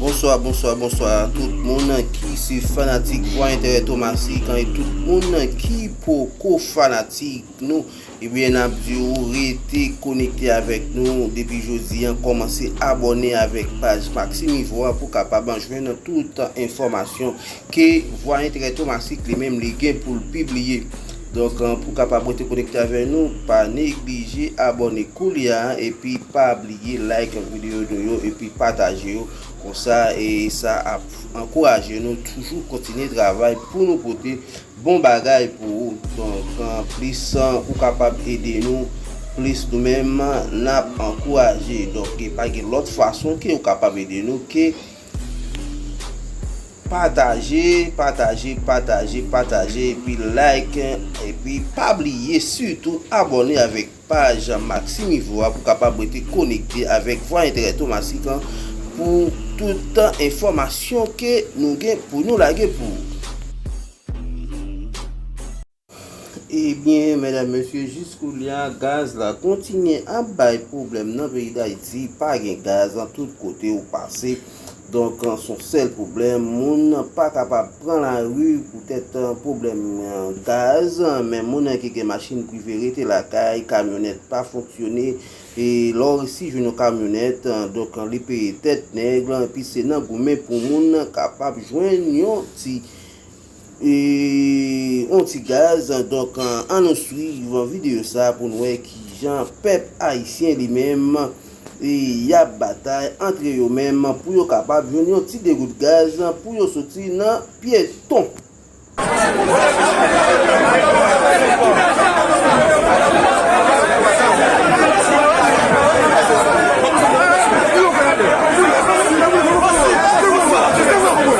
Bonswa bonswa bonswa a tout moun ki se fanatik vwa enterè Tomasik an e tout moun ki poko fanatik nou ebyen eh nap di ou rete konekte avèk nou depi jodi an kòmanse abòne avèk paj Maxime Ivo a pou kapab an jwenn nan tout enfòmasyon ke vwa enterè Tomasik li menm li gen pou l pibliye Donk pou kapab rete konekte avè nou pa neglije abòne koulya epi pa bliye like videyo nou yo epi pataje yo konsa sa ap ankouraje nou toujou kontinye travay pou nou pote bon bagay pou ou donk plis ou kapab ede nou plis nou menm nap ankouraje donk pa gen lòt fason ke ou kapab ede nou ke. Pataje, pataje, pataje, pataje epi like epi pa bliye sitou abòne avèk paj Maximivo a pou kapab rete konekte avèk Vwa Enterè Tomasik an pou tout enfòmasyon ke nou gen pou nou lage pou ou. Ebyen medam mesye jis koulya gaz la kontinye ap bay pwoblèm nan peyi dayiti pa gen gaz nan tout kote ou pase donk son sèl pwoblèm moun pa kapab pran lari poutèt pwoblèm gaz men moun ki gen machin prive rete lakay kamyonèt pa fonksyone e lè w resi jwenn yon kamyonèt donk li peye tèt nèg epi se nan goumen pou moun kapab jwenn yon ti Eeeee on ti gaz donk an nou swiv video sa pou n wè kijan pèp ayisyen li menm yap batay antre yo menm pou yo kapab jwenn yon ti degout gaz pou yo soti nan pyeton.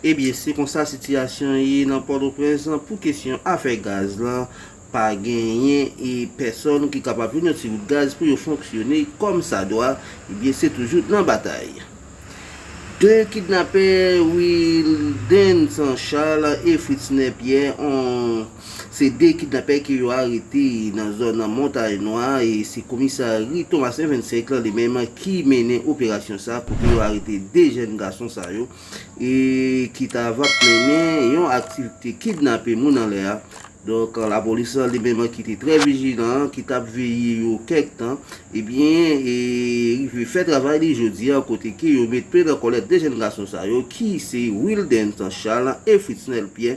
Ebyen se konsa sitiyasyon ye nan Pòtoprens lan pou kesyon afè gaz lan, pa genyen e pèsòn ki kapab jwenn yon ti gout gaz pou yo fonksyone kòm sa dwa, ebyen se toujou nan batay. 2 kidnapè Wildenson Charles e Fritzner Pierre an. Se 2 kidnapè ke yo arete nan zòn Montay Nwa e se komisari Thomas en 25 lan li menm ki mennen operasyon sa kote yo arete 2 jèn gason sa yo e ki ta va mennen yon aktivite kidnape moun anlè a. Donk lapolis lan li menm ki te trè vijilan, ki t ap veye yo kèk tan ebyen e rive fè travay li jodi a kote ke yo met pen nan kòlèt 2 jèn gason sa yo ki se Wildens Charles e Fritznel Pierre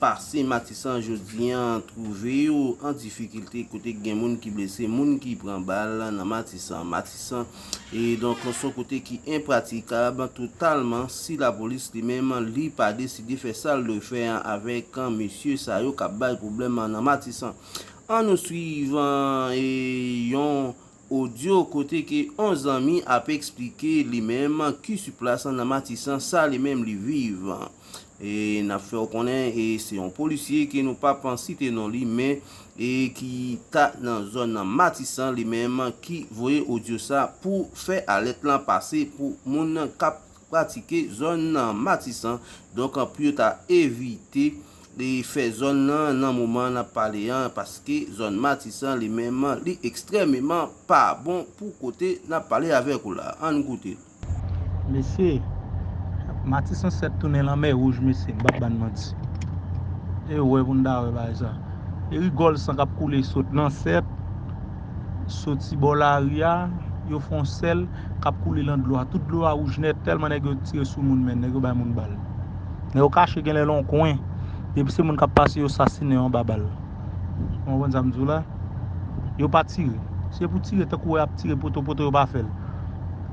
Pase Matisan jodi an twouve yo an difikilte kote gen moun ki blese, moun ki pran bal nan Matisan. Matisan e donk son kote ki enpratikab totalman si lapolis li menm li pa deside fè sa l dwe fè avèk mesye sa yo k ap bay pwoblèm nan Matisan. An nou swiv yon Odyo kote ke on zanmi ap eksplike li menm ki su plas nan Matisan sa li menm li viv. E nap fè w konnen e se on polisye ke nou pap site non li men e ki ta nan zòn Matisan li menm ki voye odyo sa pou fè alèt lan pase pou moun kap pratike zòn nan Matisan donk pou yo ta evite fè zòn nan nan moman nap pale an paske zòn Matisan li menm li ekstrèmeman pa bon pou kote nap pale avèk ou la ann koute. Mesye matisan 7 tounen lanmè wouj mesye m pap bann manti e wè pou n ta wè bagay sa e rigòl san kap koule sot nan 7. Soti bò lari a, yo fè yon sèl k ap koule lan dlo a. Tout dlo a wouj nèt tèlman nèg yo tire sou moun men. Nèg yo bay moun bal. Nèg yo kache genlè lan yon kwen. Depi se moun k ap pase yo sasinen yo anba bal. Ou konprann sa m di w la? Yo pa tire. Se pou tire tankou wè y ap tire poto poto yo pa fè l.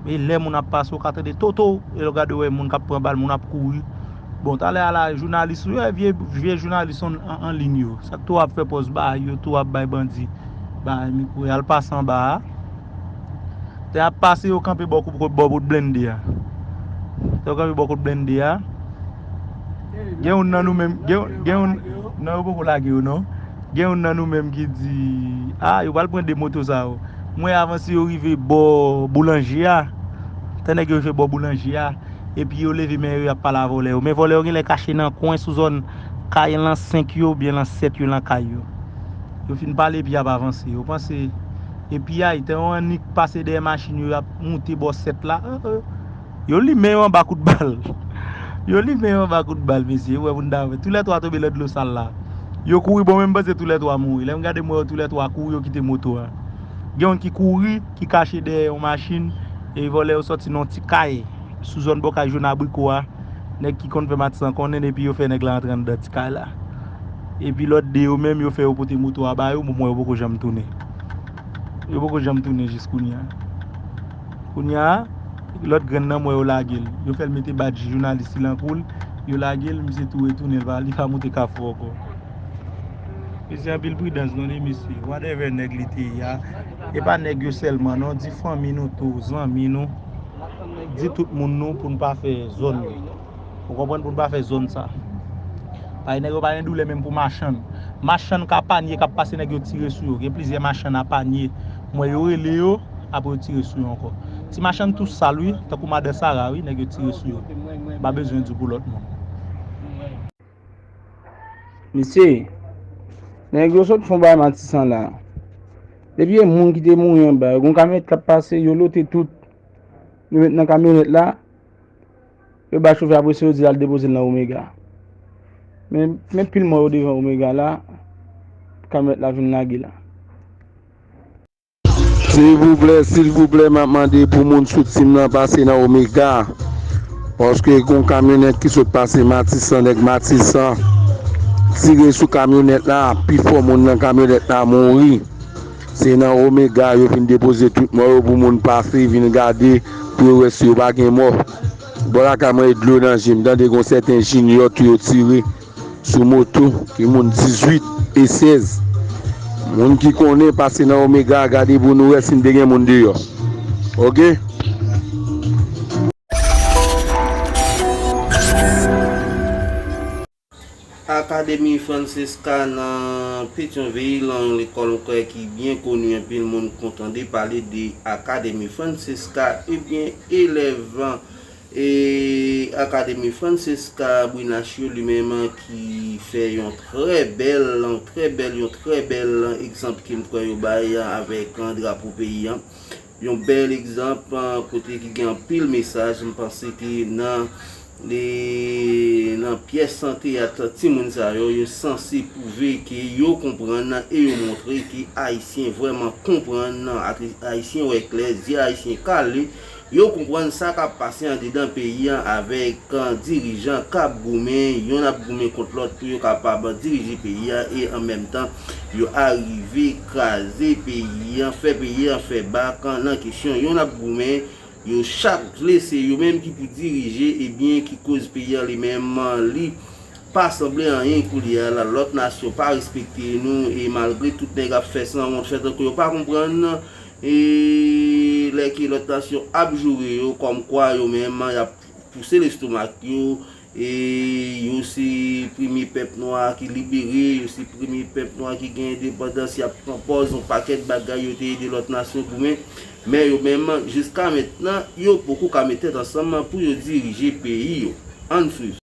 E lè moun ap pase ou ka tande toto! E lè w gade ou wè moun k ap pran bal, moun ap kouri. Bon talè ala jounalis ou yo e vye jounalis an ligne yo sak tou ap fè pòz ba yo tou ap bay bandi ba mikro yal pase anba a lè ap pase yo kanpe bò kot blende a lè yo kanpe bò kot blende a gen youn nan nou menm gen youn nan yo poko lage yo non gen youn nan nou menm ki di a yo pral pran 2 moto sa yo mwen avanse yo rive bò boulanje a tè nèg yo rive bò boulanje a epi yo leve men yo yap pale a vòlè yo men vòlè yo genlè kache nan kwen sou zòn kay lan 5 yo oubyen lan 7 yo lan kay yo yo fin pale epi yap avanse yo panse e piyay tan yo annik pase dèyè machin yo yap moute bò 7 la oh oh yo limen yo anba kout bal yo limen yo anba kout bal mesye ou wè moun ta wè tou lè 3 tonbe lan dlo sal la yo kouri bon menm panse tou lè 3 mouri lèm gade m wè yo tou lè 3 kouri yo kite moto a gen youn ki kouri. ki kache dèyè yon machin e vòlè yo sòti nan yon ti kay sou zòn bò kay Jone Abriko a. Nèg ki konn fè matisan konnen epi yo fè nèg la antre anndan ti kay la. Epi lòt 2 yo menm yo fè yo pote moto a ba yo bon yo poko janm tounen. Yo poko janm tounen jis kounye a. Kounye a, lòt grenn nan m wè yo lage l. Yo fè l mete badj jounalis li nan kou l, yo lage l, misye tou retounen li pa moute kafou ankò. Mesye anpil pridans non e mesye. Whatever nèg li te ye a. E pa nèg yo sèlman non, di fanmi nou tou, zanmi nou, di tout moun nou pou n pa fè zòn yo. Ou konprann pou n pa fè zòn sa. Paske nèg yo pa gen doulè menm pou machann. Machann ka panye kap pase nèg yo tire sou yo. Gen plizyè machann a panye m wè yo rele yo apre yo tire sou yo ankò. Ti machann tou sal wi, tankou madan Sara wi nèg yo tire sou yo. M pa bezwen di w pou lòt moun. Mesye, nèg yo sot fon bay matisan la. Depi e moun ki te mouri an ba, yon kamyonèt kap pase, yo lote tout. Yo met nan kamyonèt la, yo bay chofè apre se yo di al depoze nan Omega. Men, men pil mò yo devan Omega la, kamyonèt la vin lage la. Silvouplè silvouplè map mande pou moun sou team lan pase nan omega paske gon kamyonèt ki sot pase matisan nèg matisan tire sou kamyonèt la pifò moun nan kamyonèt la mouri se nan omega yo vin depoze tout mò yo pou moun pase vin gade pou yo wè si yo pa gen mò bò lakay mwen e dlo nan jem tande gon sèten jinyò tou yo tire. Sou moto ki moun 18 e 16. Moun ki konnen pase nan omega a gade pou nou wè si n te gen moun deyò ok. Académie Francesca nan Petyonvil, yon lekòl m kwè ki byen koni anpil moun k tande pale de Académie Francesca ebyen elèv E Akademi Francesca Brunaccio li menm ki fè yon trè bèl, trè bèl, yon trè bèl egzanp ke m kwè yo bay avèk drapo peyi an. Yon bèl egzanp kote ki gen anpil mesaj. M panse ke nan nan pyès teyat timoun sa yo, yo sanse pwouve ke yo konprann e yo montre ke Ayisyen vrèman konprann, Ayisyen wè klè, zye Ayisyen kale. Yo konprann sa kap pase andedan peyi an avèk kan dirijan kap goumen, yonn ap goumen kont lòt pou yo kapab dirije peyi an e an menm tan yo arive kraze peyi an, fè peyi an fè bak nan kesyon yonn ap goumen, yo chak vle se yo menm ki pou dirije ebyen ki koz peyi an li menm li pa sanble anyen koulye a la, lòt nasyon pa respekte nou e malgre tout nèg ap fè sanwont fè tankou yo pa konprann. E lè ke lòt nasyon ap joure yo kòm kwa yo menm y ap pouse lestomak yo e yo se premye pèp nwa ki libere, yo se premye pèp nwa ki gen endepandans, y ap pran pòz yon pakèt bagay yo te ede lòt nasyon goumen. Men yo menm, jiska mentnan, yo poko ka met tèt ansanm pou yo dirije peyi yo. Ann swiv.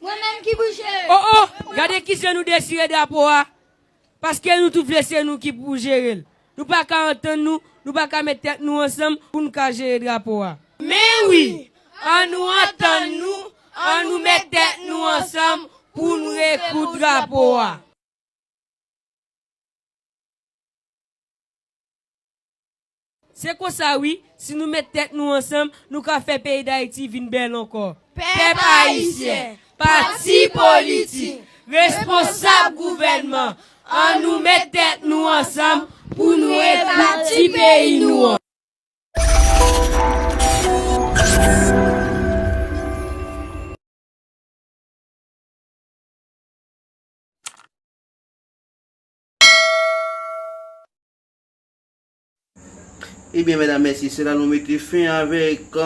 Mwen menm ki bouje! Oh oh! Gade ki jan nou dechire drapo a! Paske nou tout vle se nou ki pou jere l. Nou pa ka antann nou, nou pa ka met tèt nou ansanm pou nou ka jere drapo a. Men wi! An nou antann nou, an nou met tèt nou ansanm pou nou rekoud drapo a. Se konsa wi, si nou met tèt nou ansanm, nou ka fè peyi Dayiti vin bèl ankò. Pèp Ayisyen, pati politik, responsab gouvènman, an nou met tèt nou ansanm pou nou rebati peyi nou an. Ebyen medam mesye se la nou mete fen avèk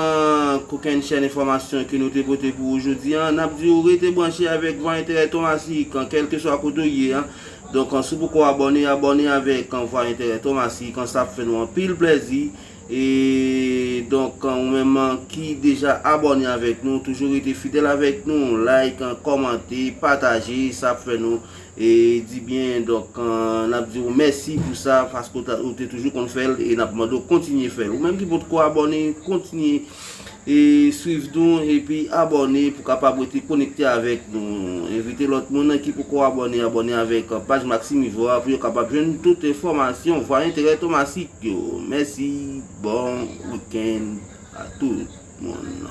kokenn chèn enfòmasyon ke nou te pote pou ou jodi an. Nap di ou rete branche avèk Vwa Enterè Thomasy kan kèlkeswa kote ou ye an. Donk an si w poko abòne, abòne avèk kan Vwa Enterè Thomasy kan sa ap fè nou anpil plèzi. E donk kan ou menm an ki deja abòne avèk nou toujou rete fidèl avèk nou, like, kòmante, pataje sa ap fè nou. E di byen donk n ap di w mèsi pou sa paske ou te toujou konn fè l e n ap mande w kontinye fè l. Ou menm ki potko abòne kontinye e swiv nou epi abòne pou kapab rete konekte avèk nou. Envite lòt moun ki poko abòne abòne avèk paj Maxime Yvon an pou yo kapab jwenn tout enfòmasyon Vwa Enterè Tomasik yo. Mèsi, bon wikenn a tout moun.